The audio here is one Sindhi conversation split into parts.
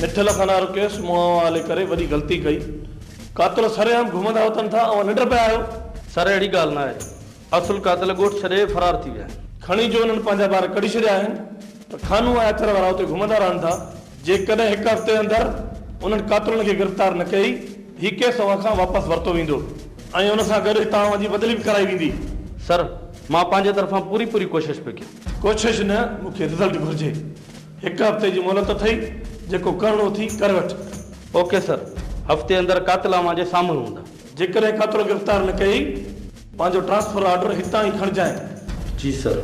مٺل کان نعرو ڪيس مون اوهان هلي ڪري وڏي غلطي ڪئي قاتل سرعام گهمندا هوتن ٿا اوهان ننڊ پيا آهيو. سر اهڙي ڳالهه ناهي اصل قاتل ڳوٺ ڇڏي فرار ٿي ويا آهن. کڻي جو انهن پنهنجا ٻار ڪڍي ڇڏيا آهن ته خانو ۽ اٿر وارا اتي گهمندا رهن ٿا جيڪڏهن هڪ هفتي اندر انهن قاتلن کي گرفتار نه ڪئي هي ڪيس اوهان کان واپس ورتو ويندو ۽ ان سان گڏ هتان اوهان جي بدلي به ڪرائي ويندي. سر مان پنهنجي طرفان پوري پوري ڪوشش پيو ڪيان. ڪوشش نه مون کي رزلٽ گهرجي هڪ هفتي جي مهلت اٿئي جيڪو ڪرڻو اٿئي ڪري وٺ. اوڪي سر هفتي اندر قاتل اوهان جي سامهون هوندا. جيڪڏهن قاتل گرفتار نه ڪيئي. پنهنجو ٽرانسفر آرڊر هتان ئي کڻجانء. جي سر.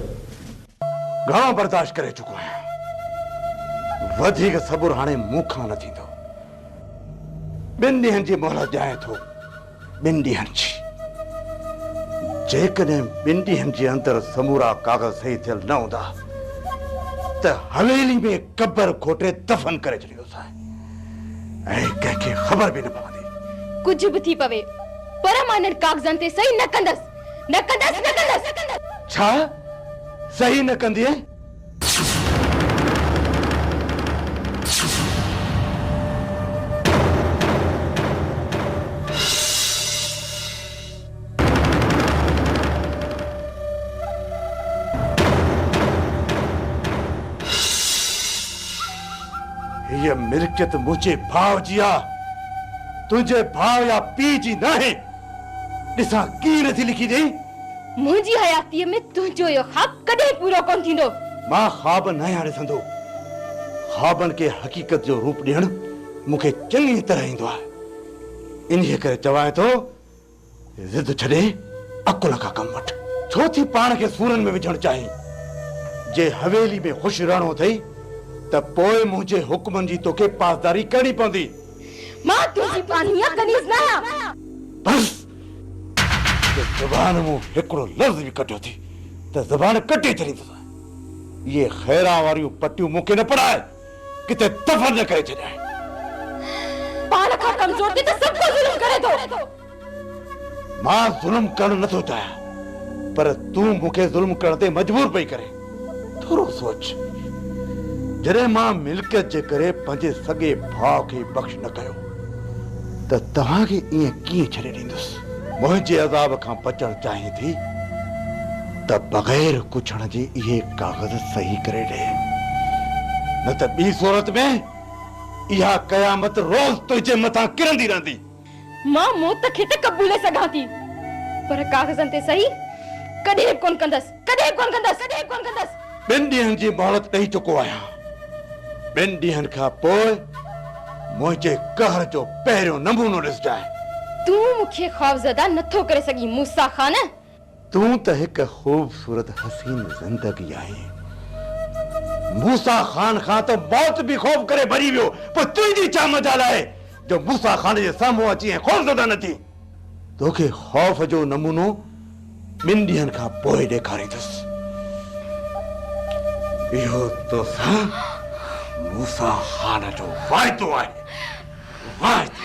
گهڻو برداشت ڪري چڪو آهيان وڌيڪ صبر هاڻي مون کان نه ٿيندو ٻن ڏينهن جي مهلت ڏيانء ٿو ٻن ڏينهن جي. جيڪڏهن ٻن ڏينهن جي اندر سمورا ڪاغذ صحيح ٿيل نه هوندا ته حويلي ۾ قبر کوٽي دفن ڪري ڇڏيندوسانء ۽ ڪنهن کي خبر به نه پوندي. ڪجهه به ٿي پوي پر مان انهن ڪاغذن تي صحيح نه ڪندس. نه ڪندس. نه ڪندس. ڇا صحيح نه ڪندينء؟ هيء ملڪيت منهنجي ڀاء جي آ، تنهنجي ڀاء يا پيء جي ناهي. ڏسان ڪيئن نٿي لکي ڏئين. منهنجي حياتيء ۾ تنهنجو اهو خواب ڪڏهن پورو ڪونه ٿيندو. مان خواب ناهيان ڏسندو. خوابن کي حقيقت جو روپ ڏيڻ مون کي چڱيء طرح ايندو آهي. انهيء ڪري چوان ٿو، ضد ڇڏي عقل کان ڪم وٺ. ڇو ٿي پاڻ کي سورن ۾ وجهڻ چاهين؟ جي حويليء ۾ خوش رهڻو اٿئي ته پوء منهنجي حڪمن جي توکي پاسداري ڪرڻي پوندي. مان تنهنجي پانهيء ڪنيز ناهيان. بس! ته زبان مون هڪڙو لفظ به ڪڍيو ٿي ته زبان ڪٽي ڇڏيندوسانء. اهي خيران واريون پٽيون مون کي نه پڙهائي ڪٿي دفن نه ڪري ڇڏيانء. پاڻ کان ڪمزور تي ته سڀ ڪو ظلم ڪري ٿو. مان ظلم ڪرڻ نه ٿو چاهيان پر تون مون کي ظلم ڪرڻ تي مجبور پئي ڪرين. ٿورو سوچ، جڏهن مان ملڪيت جي ڪري پنهنجي سڳي ڀاء کي بخش نه ڪيو ته توهان کي ائين ڪيئن ڇڏي ڏيندس؟ منهنجي عذاب کان بچڻ چاهين ٿي ته بغير ڪڇڻ جي اهي ڪاغذ صحيح ڪري ڏي، نه ته ٻي صورت ۾ اها قيامت روز تنهنجي مٿان ڪرندي رهندي. مان موت کي ته قبولي سگهان ٿي پر ڪاغذن تي صحيح ڪڏهن به ڪونه ڪندس، ڪڏهن به ڪونه ڪندس، ڪڏهن به ڪونه ڪندس. ٻن ڏينهن جي مهلت ڏئي چڪو آهيان. ٻن ڏينهن کان پوء منهنجي قهر جو پهريون نمونو ڏسجانء. تون مون کي خوفزده نٿو ڪري سگهين موسيٰ خان. تون ته هڪ خوبصورت حسين زندگي آهين. موسيٰ خان کان ته موت به خوف ڪري ڀڄي ويو، پوء تنهنجي ڇا مجال آهي جو موسيٰ خان جي سامهون اچي ائين خوفزده نه ٿين. توکي خوف جو نمونو ٻن ڏينهن کان پوء ڏيکاريندس. اهو توسان موسيٰ خان جو واعدو آهي، واعدو.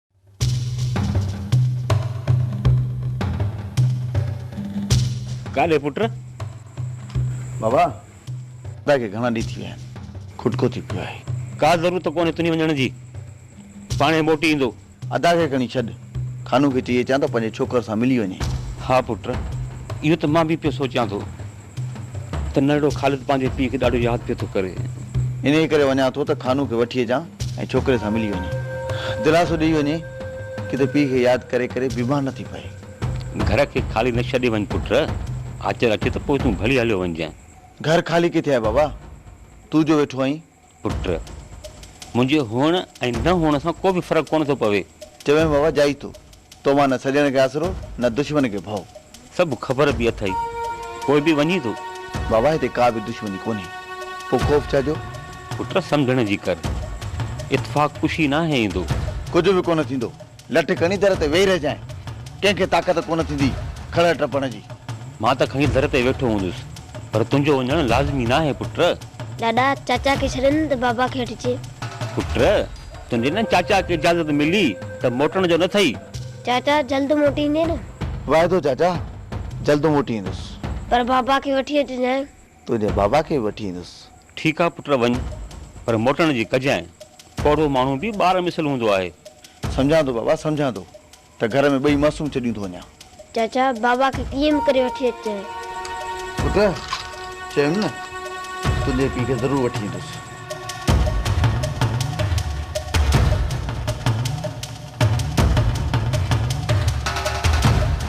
ڳالهه پٽ. بابا، دادا کي گهڻا ڏينهن ٿي ويا آهن. کٽڪو ٿي پيو آهي. ڪا ضرورت ته ڪونهي تنهنجي وڃڻ جي. پاڻهي موٽي ايندو. ادا کي کڻي ڇڏ. خانو کي چئي اچان ته پنهنجي ڇوڪر سان ملي وڃي. ها پٽ، اهو ته مان به پيو سوچيان ٿو. ته ننڍڙو خالد پنهنجي پيء کي ڏاڍو ياد پيو ٿو ڪري. انهيء ڪري وڃان ٿو ته خانوء کي وٺي اچان ۽ ڇوڪري سان ملي وڃي دلاسو ڏيئي وڃي ڪٿي پيء کي ياد ڪري ڪري بيمار نه ٿي پئي. گهر کي خالي نه ڇڏي وڃ پٽ. آچر اچي ته پوء تون ڀلي هليو وڃجانء. گهر خالي ڪٿي آهي بابا؟ تون جو ويٺو آهين. پٽ! منهنجي هئڻ ۽ نه هئڻ سان ڪو به فرق ڪونه ٿو پوي. چوين بابا جائي ٿو. تو مان نه سڄڻ کي آسرو، نه دشمن کي ڀؤ. سڀ خبر به اٿئي، پوء به وڃين ٿو؟ بابا هتي ڪا به دشمني ڪونهي، پوء خوف ڇا جو؟ پٽ! سمجهڻ جي ڪر. اتفاق ڪشي ناهي ايندو. ڪجهه به ڪونه ٿيندو. لٺ کڻي در تي ويهي رهجانء، ڪنهن کي طاقت ڪونه ٿيندي کڙهه ٽپڻ جي. مان ته کڻي در تي ويٺو هوندس، پر تنهنجو وڃڻ لازمي ناهي پٽ. ڏاڏا، چاچا کي ڇڏين ته بابا کي هيٺ چئي. پٽ، تنهنجي نه چاچا کي اجازت ملي ته موٽڻ جو نه ٿئي. چاچا، جلد موٽي ايندين نه؟ وعدو چاچا، جلد موٽي ايندس. پر بابا کي وٺي اچجانء. تنهنجي بابا کي به وٺي ايندس. ٺيڪ آ پٽ وڃ پر موٽڻ جي ڪجانء. پوڙهو ماڻهو به ٻار مثل هوندو آهي. سمجهان ٿو بابا سمجهان ٿو ته گهر ۾ ٻئي معصوم ڇڏيون ٿو وڃان. چاچا بابا کي ڪيئن به ڪري وٺي اچ. پٽ چيم نه تنهنجي پيء کي ضرور وٺي ايندس.